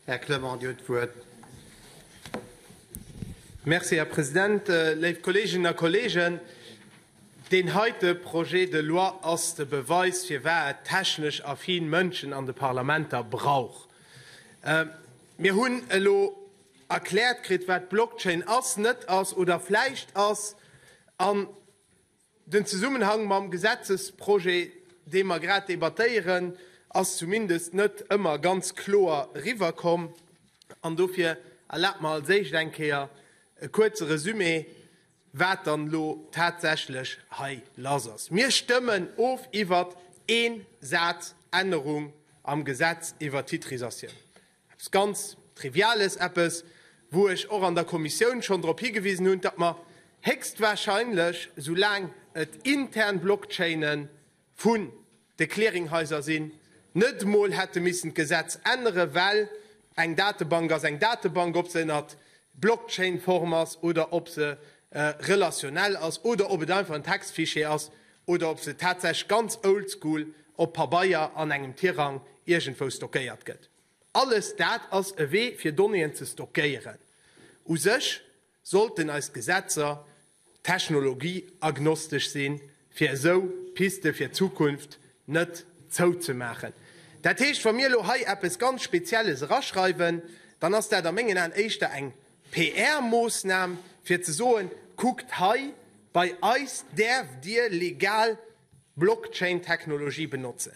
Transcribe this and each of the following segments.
Här Clement, Dir hutt d'Wuert. Merci, Här President. Léif Kolleeginnen a Kolleegen, deen heite Projet de loi ass de Beweis, firwat et technesch affin Mënschen an de Parlamenter brauch. Mir hunn elo erkläert kritt, wat d'Blockchain ass, net ass oder vläicht ass. Den Zesummenhang mam Gesetzesprojet, dee mer grad debattéieren, ass zumindest net ëmmer ganz kloer eriwwerkomm. An dofir erlaabt mer als éischt eng Kéier e kuerze Resumé, wat dann elo tatsächlech hei lass ass. Mir stëmmen of iwwert ee Saz Ännerung am Gesetz iwwert d'Titrisatioun. Eppes ganz Triviales, eppes, wou ech och an der Kommissioun schonn drop higewisen hunn, datt mer héchstwahrscheinlech, soulaang et intern Blockchaine vun de Clearinghaiser sinn, net emol hätte missen d'Gesetz änneren, well eng Datebank ass eng Datebank, ob se ënnert Blockchain-Form ass oder ob se relationell ass oder ob et einfach en Textfichier ass, oder ob se tatsächlech ganz oldschool op Pabeier an engem Tirang iergendwou stockéiert gëtt, alles dat ass e Wee fir Donnéeën ze stockéieren. U sech sollten eis Gesetzer technologieagnostesch sinn, fir esou Piste fir d'Zukunft net zouzemaachen. Dat heescht, wa mir elo hei eppes ganz Spezielles eraschreiwen, dann ass dat a mengen Aen éischter eng PR-Moossnam fir ze soen, kuckt hei, bei eis däerft dir legal Blockchain-Technologie benotzen.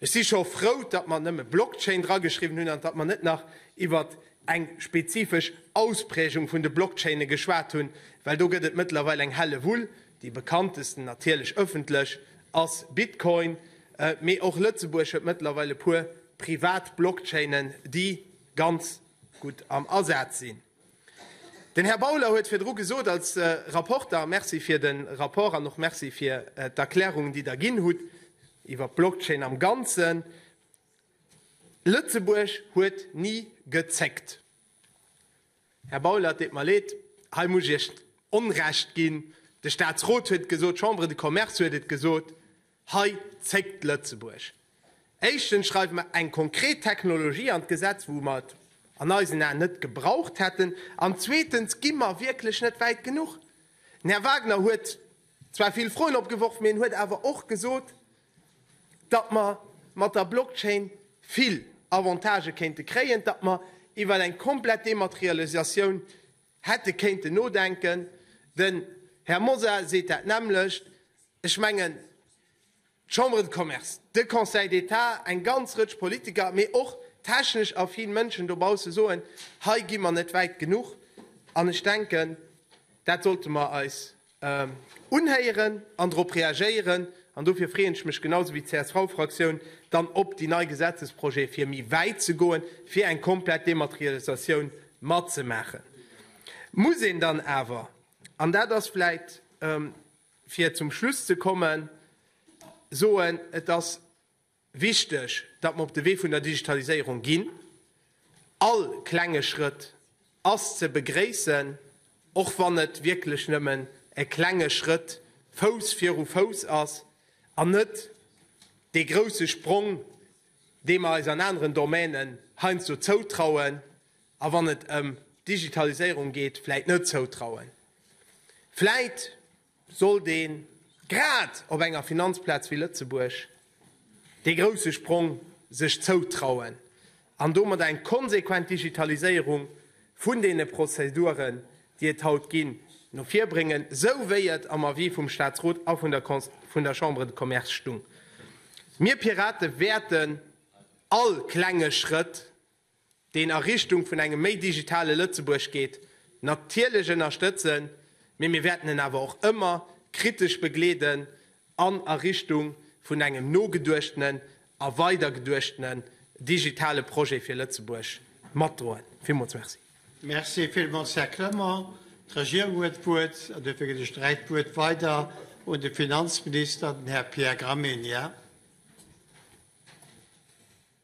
Ech si scho frou, datt mer nëmme Blockchain drageschriwwen hunn an datt mer net nach iwwer eng spezifesch Ausprägung vun de Blockchaine geschwat hunn, well do gëtt et mëttlerweil eng Hellewull. Déi bekanntesten, natierlech ëffentlech, ass Bitcoin, mee och Lëtzebuerg huet mëttlerweil e puer privat Blockchainen, déi ganz gutt am Asaz sinn. Den Här Bauler huet virdru gesot als Rapporter, Merci fir de Rapport an och Merci fir d'Erklärungen, déi Der ginn hutt iwwer d'Blockchain am Ganzen, Lëtzebuerg huet ni gezéckt. Här Bauler, et deet mer leed, hei muss ech Iech Onrecht ginn. De Statsrot huet et gesot, d'Chambre de Commerce huet et gesot. Hei zéckt Lëtzebuerg. Éischtens schreiwe mer eng konkret Technologie an d'Gesetz, wou mer et an eisen Aen net gebraucht hätten, an zweetens gi mer wierklech net wäit genuch. Den Här Wagner huet zwar vill Froen opgeworf, mee en huet awer och gesot, datt mer mat der Blockchain vill Avantagë kéinte kréien, datt mer iwwer eng komplett Dematerialisatioun hätte kéinten nodenken. Den Här Mosar seet dat nämmlecht. Ech mengen, d'Chambre de Commerce, de Conseil d'État, eng ganz Rëtsch Politiker, mee och technesch affin Mënschen dobausse soen, hei gi mer net wäit genuch. An ech denken, dat sollte mer eis unhéieren an drop reagéieren. An dofir freeën ech mech genau sou wéi d'CSV-Fraktioun dann op déi nei Gesetzesprojete fir méi wäit ze goen, fir eng komplett Dematerialisatioun matzemaachen. Muss een dann awer, an dat ass vläicht, Fir zum Schluss ze kommen, soen, Et ass wichteg, datt mer op de Wee vun der Digitaliséierung ginn. All klenge Schrëtt ass ze begréissen, och wann et wierklech nëmmen e klenge Schrëtt Fouss viru Fouss ass an net dee grousse Sprong, dee mer eis an aneren Domänen heiansdo zoutrauen, a wann et ëm d'Digitaliséierung geet, vläit net zoutrauen. Vläit sollt ee grad op enger Finanzplaz wéi Lëtzebuerg dee grousse Sprong sech zoutrauen an domat eng konsequent Digitaliséierung vun deene Prozeduren, déi et haut ginn, no vir bréngen, esou wéi et am Avis vum Statsrot a vun der Chambre de Commerce stung. Mir Pirate wäerten all klenge Schrëtt deen a Richtung vun engem méi digitale Lëtzebuerg geet, natierlech ënnerstëtzen, mee mir wäerten en awer och ëmmer kritesch begleeden an a Richtung vun engem nogeduechtenen a weidergeduechtenen digitale Projet fir Lëtzebuerg matdroen. Villmools Merci. Merci villmools, Här Clement. D'Regierung huet d'Wuert an dofir ginn ech direkt d'Wuert weider un de Finanzminister, den Här Pierre Gramegna.